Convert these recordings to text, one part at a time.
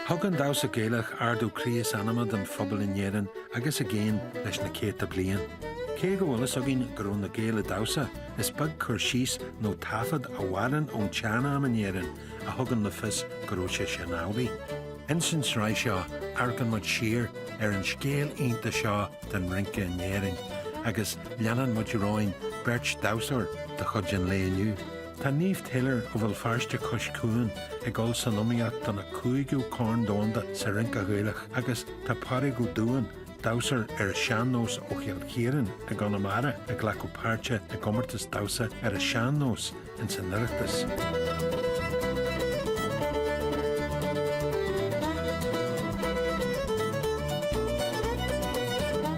Thug an damhsa Gaelach ardú croí is anama don phobal in Éirinn agus i gcéin leis na céadta bliain. Cé go bhfuil fhios againn go raibh na Gaeil ag damhsa, is beag cur síos nó taifead a mhaireann ón tsean-am in Éirinn a thugann le fios go raibh sé sin amhlaidh. Ins an tsraith seo, amharcfaidh muid siar ar an scéal iontach seo den rince in Éirinn agus leanann muid romhainn beirt dhamhsóir de chuid an lae inniu, Tá Niamh Taylor ó Bhéal Feirste Cois Cuain ag dul san iomaíocht don 5ú Chorn Domhanda sa Rince Ghaelach agus tá Pádraig Ó Dúin, damhsóir ar a sean-nós ó Chill Chiaráin i gConamara ag glacadh páirte i gcomórtas damhsa ar a sean-nós ins an Oireachtas.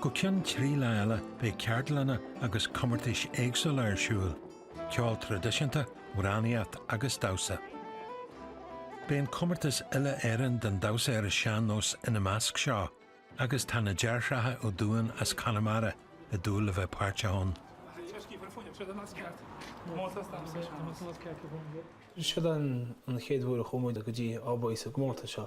Go ceann trí lá eile beidh ceardlanna agus comórtais éagsúla ar siúl, ceol traidisiúnta, amhránaíocht agus damhsa. Beidh an comórtas Uile Éireann den damhsa ar an sean nós ina measc seo agus tá na deartháireacha Ó Dúinn as Conamara i dúil le bheith páirteach ann. Seo an chéad uair a chuaigh muid go dtí Albain sa gcomórtas seo.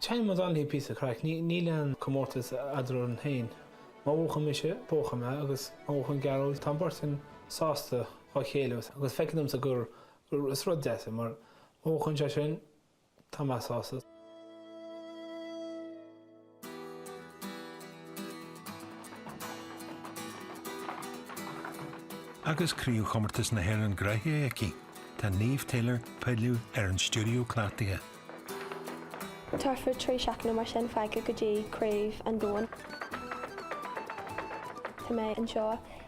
Chaill mo Donnelly píosa craic. Níl aon comórtas eadrainn féin. Má bhuachann mise, buachann mé agus má bhuachann Gearóid, tá an bheirt againn sásta dá chéile agus agus feictear dhomsa gur gur is rud deas é mar má bhuachann sé sin, tá mé sásta. Agus Craobhchomórtas na hÉireann gnóthaithe aici, tá Niamh Taylor ag pilleadh ar an stiúideo cleachtaidh. Tá thart fá trí seachtaine nó mar sin fágtha go dtí Craobh an Domhain. Tá mé anseo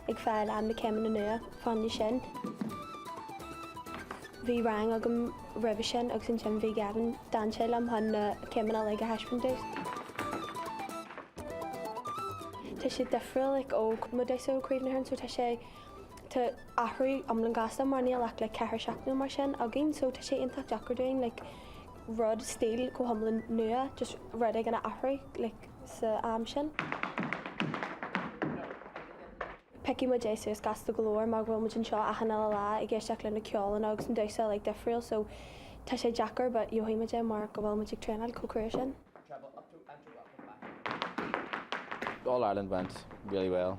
ag foghlaim na céimeanna nua faoi choinne sin. Bhí rang agam roimhe sin agus ansin bhí Gavin. D'fhan sé liom chun na céimeanna uilig a thaispeáint. Tá sé difriúil, like, ó, mo dhamhsaí ó Craobh na hÉireann so tá sé. Tá an t-athrú iomlán gasta mar níl ach like ceithre seachtaine nó mar sin againn so tá sé iontach deacair dúinn like rud, stíl go hiomlán nua, just rud éigin a athrú like san am sin. Piocfaidh muid é suas gasta go leor mar go bhfuil muid anseo achan eile lá ag éisteacht le na ceolanna agus an damhsa like difriúil so tá sé deacair but gheobhaidh muid é mar go bhfuil muid ag traenáil chomh crua sin. All Ireland went really well.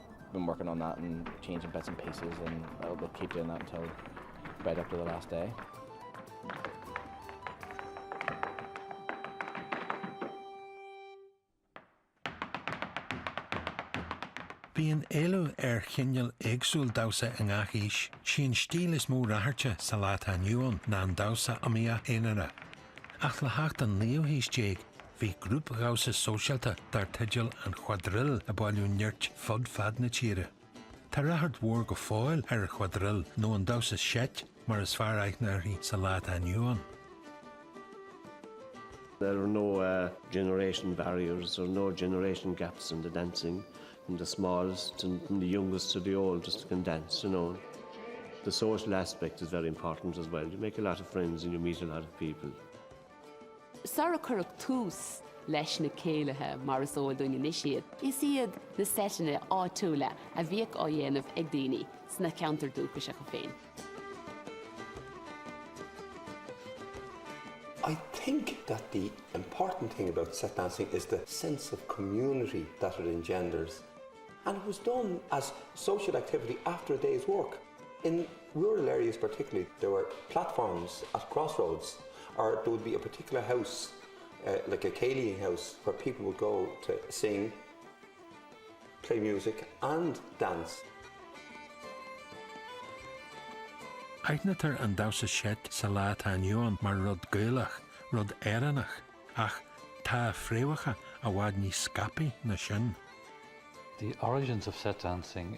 been working on that and changing bits and pieces and I'll, we'll keep doing that until right up to the last day. Bíonn éileamh ar chineál éagsúil damhsa i ngach aois. Sí an stíl is mó ráchairte sa lá atá inniu ann ná an damhsa iomaíoch aonair. Ach le theacht an naoú haois déag, Bhí grúpdhamhsa sóisialta dar teideal An Quadrille ag bailiú nirt fud fad na tíre. Tá ráchairt mhór go fóill ar an Quadrille, nó an damhsa seit mar is fearr aithne uirthi sa lá atá inniu ann. There are no generation barriers or no generation gaps in the dancing, from the smallest, from the youngest to the oldest can dance, you know. The social aspect is very important as well, you make a lot of friends and you meet a lot of people. Sular cuireadh tús leis na céilithe mar is eol dúinn anois iad, is iad na seiteanna áitiúla a bhíodh á dhéanamh ag daoine sna ceantair dúchasacha féin. I think that the important thing about set dancing is the sense of community that it engenders and it was done as social activity after a day's work in Rural areas particularly, there were platforms at crossroads or there would be a particular house, like a céilí house, where people would go to sing, play music and dance. Aithnítear an damhsa seit sa lá atá inniu ann mar rud Gaelach, rud Éireannach, ach tá a fréamhacha i bhfad níos scaipthe ná sin. The origins of set dancing.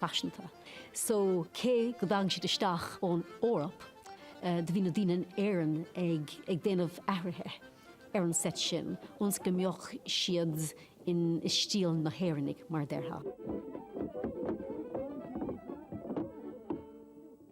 paiseanta so cé go dtagann siad isteach ón Eoraip do bhí na daoine in Éirinn ag ag déanamh athruithe ar an seit sin ionas go mbeadh siad in i stíl na hÉireannaigh mar a déarfá.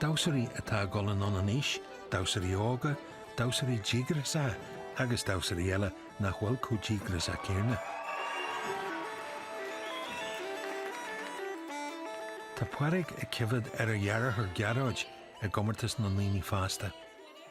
Damhsóirí atá ag dul anonn in aois, damhsóirí óga, damhsóirí díograiseacha agus damhsóirí eile nach bhfuil chomh díograiseach céanna. Tá Páraic ag coimhéad ar a dheartháir Gearóid i gcomórtas na ndaoine fásta.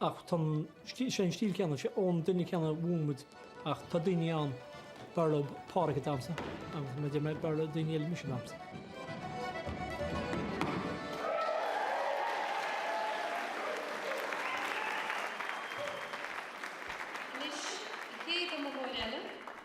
Ach tá an stíl, sé an stíl céanna, sé ón duine céanna a mhúin muid ach tá daoine ann, b'fhearr leo Páraic ag damhsa agus mar a deir mé, b'fhearr le daoine eile mise ag damhsa. Anois, an chéad iomaitheoir eile.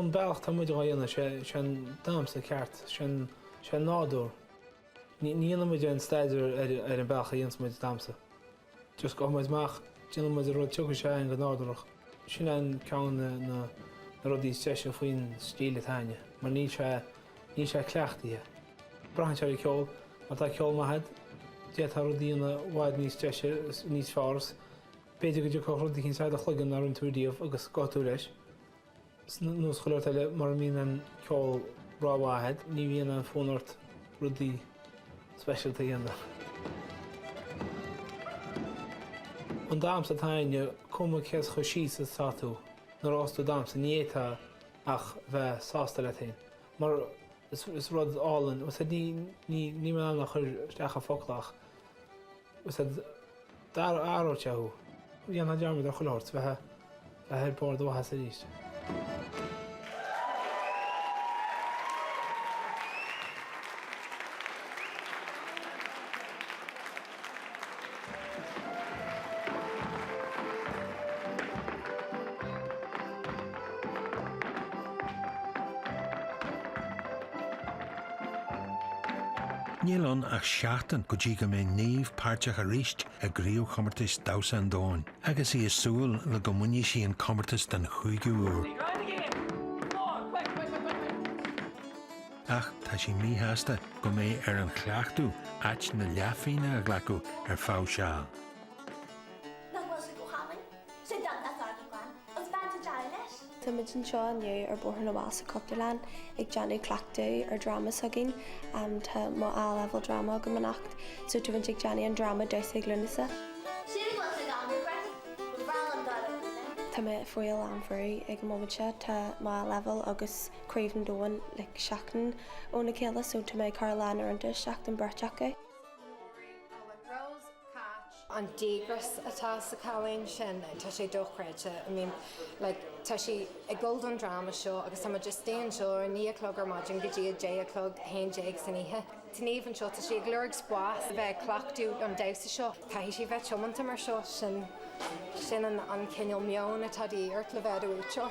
An bealach atá muid á dhéanamh, sé sin damhsa ceart, sin sin nádúr. Ní dhéanann muid aon staidéar ar an bealach a dhéananns muid damhsa. Just gabhfaidh muid amach déanann muid an rud a thiocfas amach go nádúrach. Sin an ceann de na rudaí is deise faoin stíl atá againne mar níl sé níl sé cleachtaithe. Braitheann sé ar an gceol. Má tá ceol maith agat, d'fhéadfá rud a dhéanamh i bhfad níos deise, níos fearr is b'fhéidir go dtiocfadh rud eicínt sa do chloigeann nach rinne tú riamh agus gabhfaidh tú leis. Nós chuile shórt eile, mura mbíonn an ceol rómhaith agat, ní bhíonn an fonn ort rudaí speisialta a dhéanamh. An damhsa atá againne, cuma cé chomh síos is atá tú, nuair a thosós tú ag damhsa, ní fhéadfá ach bheith sásta leat fhéin. mar is rud álainn ní mé in ann a chur isteach i bhfocla ach d'athróidh sé thú. dhéanfaidh dearmad ar chuile shórt beidh tú ar bharr do mhaitheasa arís. Níl ann ach seachtain go dtí go mbeidh Niamh páirteach arís i gCraobhchomórtas Damhsa an Domhain agus í ag súil le go mbainfidh sí an comórtas den chúigiú uair. ach tá sí míshásta go mbeidh ar an chleachtadh áit na leathphingne a ghlacadh ar feadh seal. nach bhfuil sí go hálainn. Sé Dad nach gá dom glan agus bean sa dearadh leis. Tá muid anseo inniu ar Bhóthar na bhFál sa Chultúrlann ag déanamh cleachtaidh ar dhráma s'againn. Tá mo A level drama agam anocht so tá muid ag déanamh an dráma Damhsa ag Lúnasa. Sin go bhfuil sé gan difríocht, ba bhreá liom dul ar an líne. Tá mé faoi a lán brú ag an móimint seo, tá mo A levels agus Craobh an Domhain like seachtain óna chéile so tá mé ag cur a lán uaireanta isteach sa bheirt acu. an díograis atá sa cailín sin tá sé dochreidte I mean like tá sí ag dul don dráma seo agus tá muid just ag déanamh seo ó naoi a chlog ar maidin go dtí a deich a chlog a haon déag san oíche. Tá Niamh anseo. Tá sí ag lorg spáis le bheith ag cleachtadh an damhsa seo. Caithfidh sí bheith tiomanta mar seo, sin sin an cineál meoin atá de dhíth ort le bheith i do bhuaiteoir.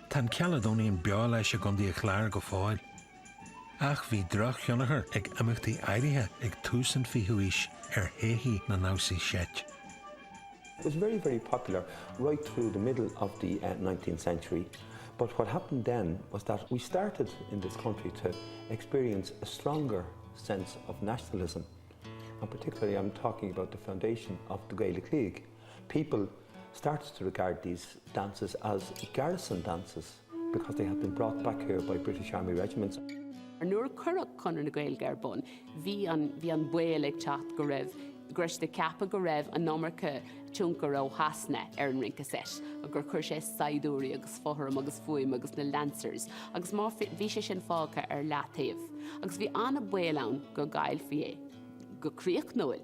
Tá an Caledonian beo leis i gContae an Chláir go fóill, ach bhí drochthionchar ag imeachtaí áirithe ag tús an 20ú haois ar théithí na ndamhsaí seit. It was very, very popular right through the middle of the nineteenth century but what happened then was that we started in this country to experience a stronger sense of nationalism and particularly I'm talking about the foundation of the Gaelic League. people started to regard these dances as garrison dances because they have been brought back here by British Army regiments. Nuair a cuireadh Conradh na Gaeilge ar bun, bhí bhí an baol ag teacht go raibh go raibh siad ag ceapadh go raibh an iomarca tionchair ó Shasana ar an rince seit agus gur chuir sé saighdiúirí agus fothram agus fuaim agus na lancers agus má bhí sé sin fágtha ar leataobh. Agus bhí an baol ann go gcaillfí é go críochnúil.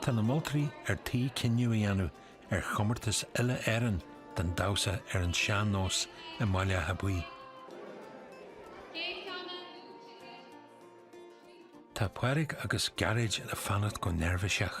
Tá na moltóirí ar tí cinneadh a dhéanamh ar chomórtas uile-Éireann don damhsa ar an sean-nós i mBaile Átha Buí. Tá Pádraig agus Gearóid ag fanacht go neirbhíseach.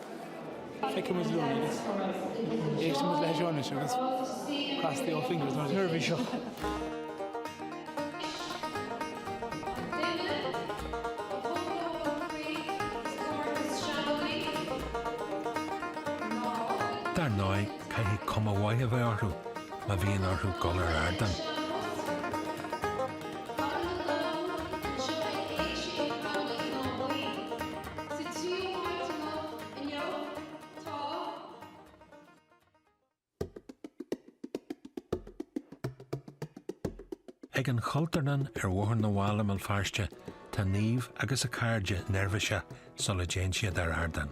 Feicfidh muid linn agus éistfidh muid linn agus cross the old fingers mar a déarfá anseo. Dar ndóigh, caithfidh cuma mhaith a bheith orthu má bhíonn orthu dul ar ardán. Sa tríú háit amuigh inniu tá. Ag an Chultúrlann ar Bhóthar na bhFál i mBéal Feirste tá Niamh agus a cairde neirbhíseach sula dtéann siad ar ardán.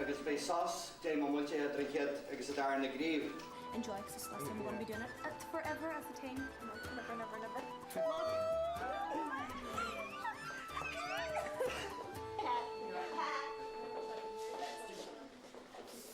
agus beidh sásta dá mbeadh muid idir an chéad agus an dara na gcraobh.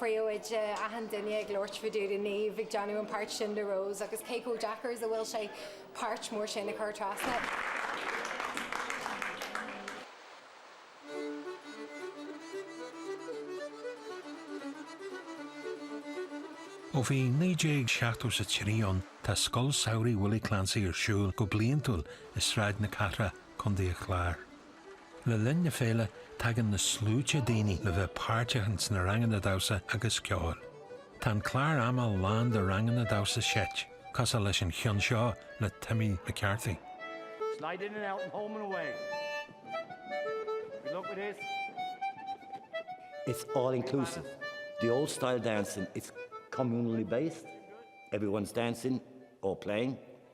Bhí achan duine ag labhairt fá dtaobh de Niamh ag déanamh an páirt sin de Rose agus cé chomh deacair is a bhfuil sé páirt mór sin a chur trasna. Ó bhí 1973 ann tá Scoil Samhraidh Willie Clancy ar siúl go bliantúil i Sráid na Cathrach, Co. an Chláir. Le linn na féile, tagann na sluaite daoine le bheith páirteach ins na ranganna damhsa agus ceoil. Tá an clár ama lán de ranganna damhsa seit, cosúil leis an cheann seo le Timmy McCarthy. Slide in and out and home and away. Good luck with this. It's all inclusive. The old style dancing, it's communally based. Everyone's dancing or playing.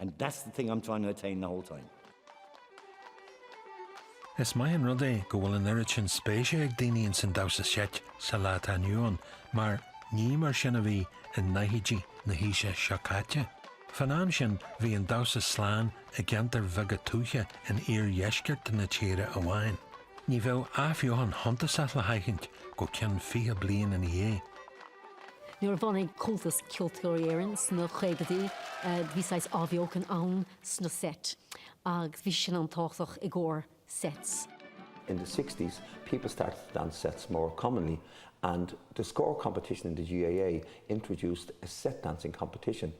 And that's the thing I'm trying to attain the whole time. Is maith an rud é go bhfuil an oiread sin spéise ag daoine ins an damhsa seit sa lá atá inniu ann mar ní mar sin a bhí i ndaichidí na haoise seo caite. Fán am sin bhí an damhsa slán i gceantair bheaga tuaithe in iardheisceart na tíre amháin. Ní bheadh athbheochan shuntasach le haithint go ceann fiche bliain ina dhiaidh. Nuair a bhunaigh Comhaltas Ceoltóirí Éireann sna caogaidí bhí saghas athbheochan ann sna sets agus bhí sin an-tábhachtach i gcomhair sets. In the sixties people started to dance sets more commonly and the Scór competition in the GAA introduced a set dancing competition.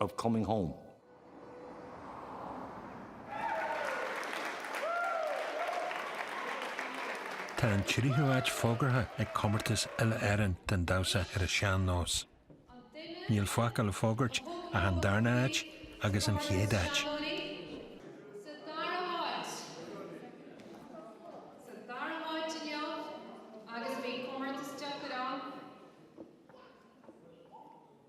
of coming home. Tá an tríú áit fógartha ag Comórtas Uile-Éireann don Damhsa ar an Sean-Nós. Níl fágtha le fógairt ach an darna áit agus an chéad áit.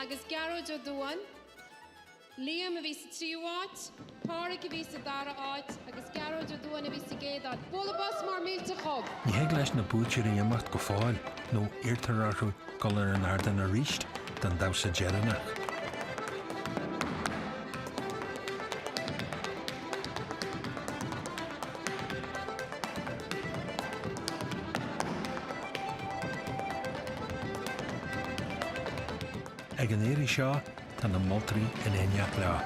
agus Gearóid Ó Dubháin, Liam a bhí sa tríú háit, Pádraig a bhí sa dara háit agus Gearóid Ó Dubháin a bhí sa gcéad áit. Bualadh bos mór millteach dóibh! Ní thig leis na buaiteoirí imeacht go fóill nó iarrtar orthu dul ar an ardán arís don damhsa deireanach. An iarraidh seo, tá na moltóirí in éineacht leo.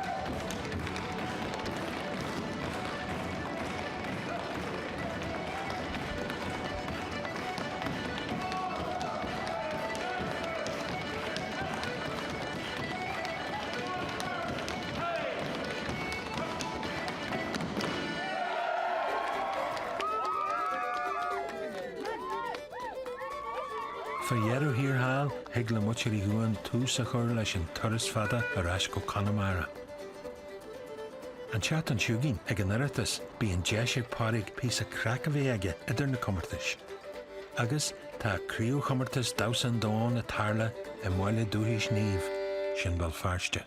Fá dheireadh thiar thall, thig le muintir Uí Dhubháin tús a chur leis an turas fada ar ais go Conamara. An tseachtain seo chugainn, ag an Oireachtas, bíonn deis ag Pádraig píosa craic a bheith aige idir na comórtais. Agus, tá craobhchomórtas Damhsa an Domhain ag tarlú i mbaile dúchais Niamh, sin Béal Feirste.